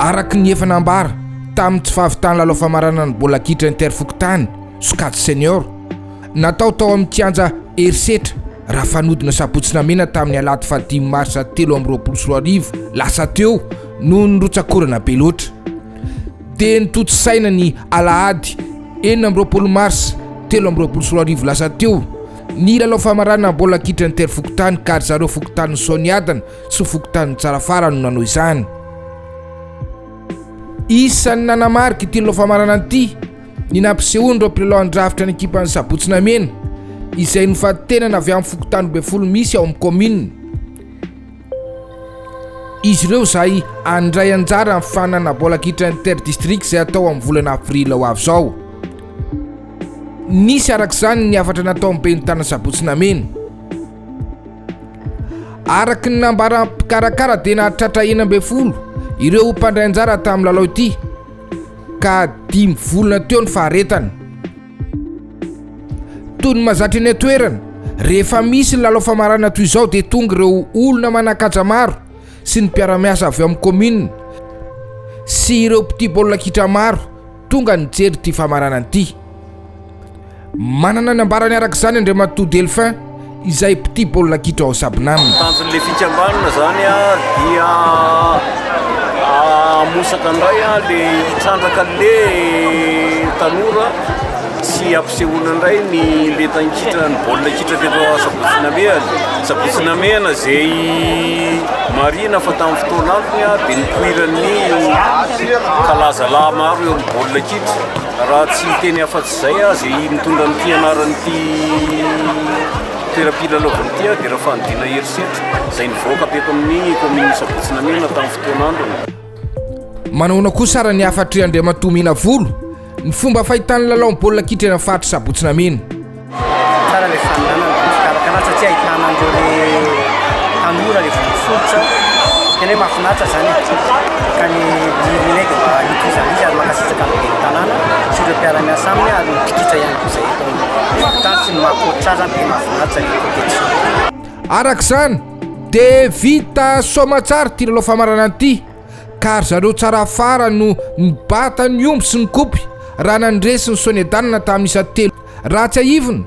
Araka ny efa nambara tamin'ny tsy fahavitan'ny lalao famaranan'ny bola kitra interfokontany sokajy senior natao tao amin'ny kianja herisetra raha fanodina sabotsina mena tamin'ny alahady fahadimy marsa telo amby roapolo sy roa arivo lasa teo noho ny rotsakorana be loatra dia notontosaina ny alahady enina amby roapolo mars telo amby roapolo sy roa arivo lasa teo ny lalao famarana baolina kitra inter-fokontany ka ry zareo fokontanin'i Soaniadana sy fokontanin'i Tsarafara no nanao izany. Isan'ny nanamarika ity lalao famarana ity ny nampisehoan'ireo mpilalao handrafitra ny ekipan'ny Sabotsinamena izay nofantenana avy amin'ny fokontany ambin'ny folo misy ao amin'ny kaominina. Izy ireo izay handray anjara amin'ny fanana baolina kitra inter-districts izay hatao amin'ny volana aprily ho avy izao. Nisy araka izany ny hafatra nataon'ny ben'ny tanana sabotsy nameno. Araka ny nambaran'ny mpikarakara dia nahatratra enina ambin'ny folo ireo mpandray anjara tamin'ny lalao ity ka dimy volana teo ny faharetana. Toy ny mazatra eny an-toerana, rehefa misy ny lalao famarana toy izao dia tonga ireo olona manan-kaja maro sy ny mpiara-miasa avy ao amin'ny kaominina sy ireo mpitia baolina kitra maro tonga nijery ity famaranana ity. Manana ny ambarany araka izany Andriamatoa Delphin. izay mpitia baolina kitra ao Sabnam. Tanjon'ilay fikambanana izany dia hamosaka indray ilay hitrandraka an'ilay tanora sy hampisehoana indray ny lentan-kitra ny baolina kitra teto Sabotsy-Namehana. Sabotsy-Namehana izay marihina fa tamin'ny fotoana antony dia nipoiran'ny kalazalahy maro eo amin'ny baolina kitra raha tsy teny afa Izay aza i mitondra an'ity anaran'ity toeram-pilalaovana ity dia raha fanodina herisetra izay nivoaka teto amin'ny kaominina Sabotsy-Namena tamin'ny fotoan'androny. Manahoana kosa ary ny hafatr'i Andriamatoa Menavolo ny fomba fahitany ny lalaon'ny baolina kitra eny amin'ny faritry Sabotsy-Namena. Tsara ilay fanonanana ny fikarakarana satria ahitana an'ireo tanora ilay fototra tena hoe mahafinaritra izany e, ka ny ny rineg mba hitovizan'izy ary mankasitraka an'ireo. tanàna sy ireo mpiara-miasa aminy ary ny mpikitra ihany koa izay eto amin'ny hopitaly sy ny maha coach azy ary dia mahafinaritra ny competition. Araka izany dia vita soamatsara ity lalao famaranana ity ka ry zareo Tsarafara no nibata ny omby sy ny kopy raha nandresy ny Sonedanina tamin'ny isa telo. Raha tsiahivina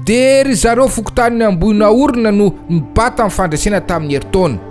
dia ry zareo fokontanin'i Ambohinaorina no nibata ny fandresena tamin'ny herintaona.